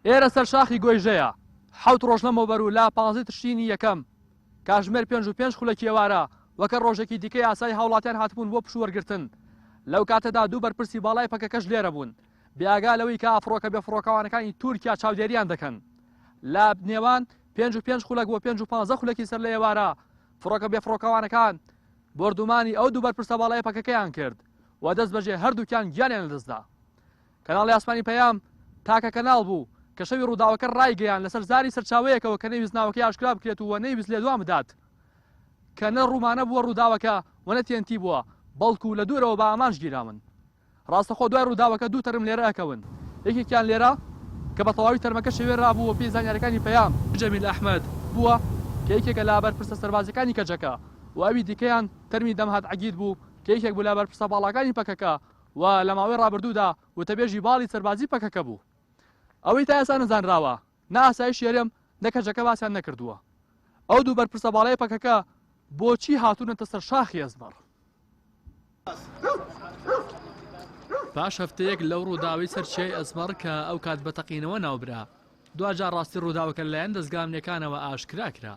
ئێرە سەر شاخی گۆیژەیە. حەوت ڕۆژ لەمەوبەر و لە پانزەی تشرینی یەکەم، کاتژمێر پێنج و پێنج خولەکی ئێوارە، وەکە ڕۆژێکی دیکەی یاسایی هاوڵاتیان هاتبوون بۆ پشووەرگرتن. لەو کاتەدا دوو بەرپرسی باڵای پەکەکەش لێرە بوون، بێئاگا لەوەی کە فڕۆکە بێفڕۆکەوانەکانی تورکیا چاودێرییان دەکەن. لە نێوان پێنج و پێنج خولەک بۆ پێنج و پانزە خولەکی سەر لە ئێوارە، فڕۆکە بێفڕۆکەوانەکان بۆردوومانی ئەو دوو بەرپرسە باڵای پەکەکەیان کرد و دەستبەجێ هەردووکیان گیانیان لەدەست دا. کەناڵی ئاسمانی پەیام تاکە کەناڵ بوو، کە شەوی ڕووداوەکە ڕایگەیاند لەسەر زاری سەرچاوەیەکەوە کە نەیویست ناوەکەی ئاشکرا بکرێت و نەیویست لێدوان بدات کە نە ڕوومانە بووە ڕووداوەکە و نە TNT بووە بەڵکو لە دوورەوە بە ئامانج گیراون. ڕاستەخۆ دوای ڕووداوەکە دوو تەرم لێرە ئەکەون، یەکێکیان لێرە کە بە تەواوی تەرمەکە شێوێنرابوو و پێی زانیاریەکانی پەیام، جەمیل ئەحمەد، بووە کە یەکێکە لە بەرپرسە سەربازیەکانی کەجەکە و ئەوی دیکەیان تەرمی دەمهات عەگید بوو کە یەکێک بوو لە بەرپرسە باڵاکانی پەکەکە و لە ماوەی ڕابردوودا وتەبێژی باڵی سەربازی پەکەکە بوو. ئەوەی تا ئێستا نەزانراوە، نە ئاسایشی هەرێم، نە کەجەکە باسیان نەکردووە ئەو دوو بەرپرسە باڵای پەکەکە بۆچی هاتوونەتە سەر شاخی ئەزمەڕ. پاش هەفتەیەک لەو ڕووداوەی سەر چیای ئەزمەڕ کە ئەو کات بە تەقینەوە ناوبرا، دواجار ڕاستی ڕووداوەکە لەلایەن دەزگا ئەمنییەکانەوە ئاشکرا کرا.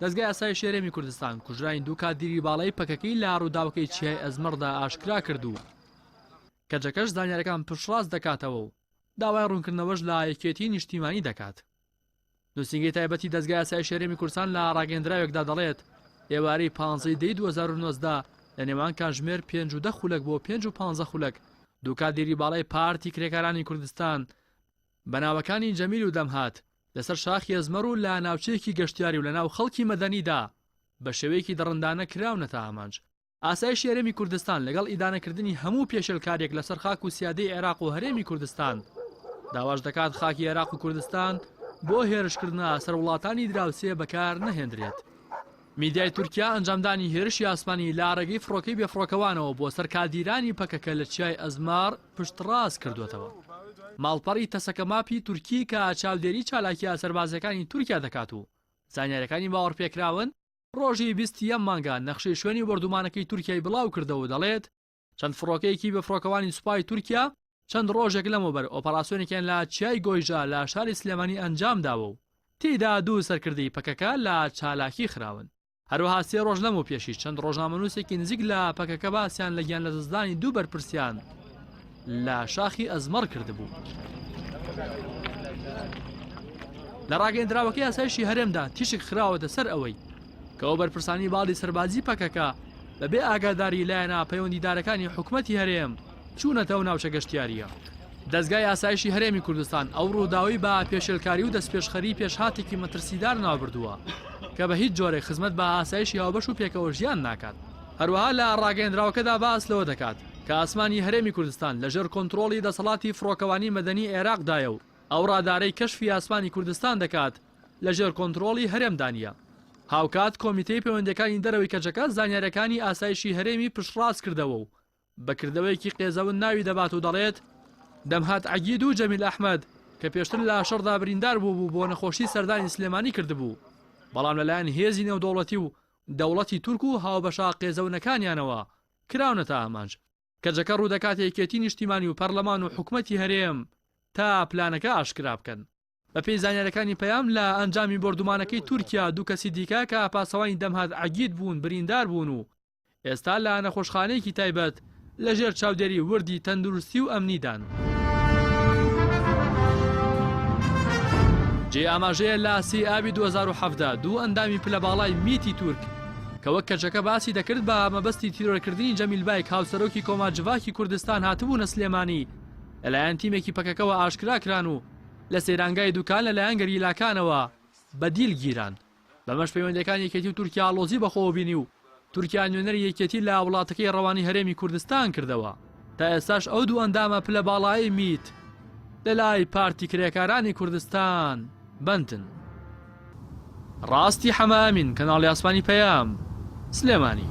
دەزگای ئاسایش هەرێمی کوردستان کوژرانی دوو کادیری باڵای پەکەکەی لە رووداوەکەی چیای ئەزمەڕدا ئاشکرا کرد و کەجەکەش زانیارەکان پشتڕاست دەکاتەوە و داوای ڕوونکردنەوەش لە یەکێتی نیشتیمانی دەکات. نووسینگەی تایبەتی دەزگای ئاسایش هەرێمی کوردستان لە ڕاگەندراوێکدا دەڵێت ئێوارەی پانزەی دەی 2009دا لە نێوان کانژمێر پێنج و دە خولەک بۆ پێنج و پانزە خولەک دوو کادیری باڵای پارتی کرێکارانی کوردستان بە ناوەکانی جەمیل و دەمهات، لەسەر شاخی ئەزمەڕ و لە ناوچەیەکی گەشتیاری و لەناو خەڵکی مەدەنیدا بە شێوەیەکی دڕندانە کراونەتە ئامانج. ئاسایشی هەرێمی کوردستان لەگەڵ ئیدانەکردنی هەموو پێشێلکارییەک لەسەر خاک و سیادەی عێراق و هەرێمی کوردستان، داواش دەکات خاکی عێراق و کوردستان بۆ هێرشکردنە سەر وڵاتانی دراوسێ بەکار نەهێندرێت. میدیای تورکیا ئەنجامدانی هێرشی ئاسمانی لە ڕێگەی فڕۆکەی بێفڕۆکەوانەوە بۆ سەر کادیرانی پەکەکە لە چیای ئەزمەڕ، پشتڕاست کردووەتەوە. ماڵپەڕی تەسەکەماپی تورکی کە چاودێری چالاکییە سەربازییەکانی تورکیا دەکات و زانیارییەکانی باوەڕپێکراون، رۆژی بیست یەم مانگە نەخشەی شوێنی بۆردوومانەکەی تورکیای بڵاوکردەوە و دەڵێت، چەند فڕۆکەیەکی بێفڕۆکەوانی سوپای تورکیا چەند رۆژێک لەمەوبەر ئۆپەراسیۆنێکیان لە چیای گۆیژە لە شاری سلێمانی ئەنجامداوە و تێیدا دوو سەرکردەی پەکەکە لە چالاکی خراون. هەروەها سێ ڕۆژ لەمەوپێشیش چەند ڕۆژنامەنووسێکی نزیک لە پەکەکە باسیان لە گیانلەدەستدانی دوو بەرپرسیان لە شاخی ئەزمەڕ کردبوو. لە ڕاگەندراوەکەی ئاسایشی هەرێمدا تیشک خراوەتە سەر ئەوەی کە ئەو بەرپرسانی باڵی سەربازی پەکەکە بەبێ ئاگاداری لایەنە پەیوەندیدارەکانی حکوومەتتی هەرێم چوونەتەوە ناوچە گەشتیارییە. دەزگای ئاسایشی هەرێمی کوردستان ئەو رووداوەی بە پێشێلکاری و دەستپێشخەریی پێشهاتێکی مەترسیدار ناوبردووە کە بە هیچ جۆرێک خزمەت بە ئاسایشی هاوبەش و پێکەوەژیان ناکات. هەروەها لە راگەیەندراوەکەدا باس لەوە دەکات کە ئاسمانی هەرێمی کوردستان لەژێر کۆنترۆڵی دەسەڵاتی فڕۆکەوانی مەدەنی عێراقدایە و ئەو رادارەی کەشفی ئاسمانی کوردستان دەکات لەژێر کۆنترۆڵی هەرێمدا نییە. هاوکات کۆمیتەی پەیوەندییەکانی دەرەوەی کەجەکە زانیارییەکانی ئاسایشی هەرێمی پشتڕاستکردەوە و بە کردەوەیەکی قێزەون ناوی دەبات و دەڵێت، دەمهات عەگید و جەمیل ئەحمەد کە پێشتر لە شەڕدا بریندار بووبوو بۆ نەخۆشی سەردانی سلێمانی کردبوو، بەڵام لەلایەن هێزی نێودەوڵەتی و دەوڵەتی تورک و هاوبەشە قێزەونەکانیانەوە کراونەتە ئامانج. کەجەکە ڕوودەکات یەکێتی نیشتیمانی و پەرلەمان و حکومەتی هەرێم تا پلانەکە ئاشکرا بکەن. بەپێی زانیاریەکانی پەیام، لە ئەنجامی بۆردومانەکەی تورکیا دوو کەسی دیکە کە پاسەوانی دەمهات عەگید بوون بریندار بوون و ئێستا لە نەخۆشخانەیەکی تایبەت لە ژێر چاودێری وردی تەندروستی و ئەمنیدان. جێی ئاماژەیە لە سی ئابی دوو هەزار و حەڤدە دوو ئەندامی پلە باڵای میتی تورک کە وەک کەچەکە باسی دەکرد بە مەبەستی تیرۆرکردنی جەمیل بایک هاوسەرۆکی کۆما جڤاکی کوردستان هاتبوونە سلێمانی لەلایەن تیمێکی پەکەکەوە ئاشکرا کران و لە سەیرانگای دوکان لەلایەن گەریلاکانەوە بە دیل گیران. بەمەش پەیوەندیەکانی یەکێتی و تورکیا ئاڵۆزی بەخۆوە بینی و تورکیا نوێنەری یەکێتی لە وڵاتەکەی ڕەوانەی هەرێمی کوردستان کردەوە. تا ئێستاش ئەو دوو ئەندامە پلە باڵایەی میت لەلای پارتی کرێکارانی کوردستان بەندن. ڕاستی حەمە ئەمین، کەناڵی ئاسمانی پەیام، سلێمانی.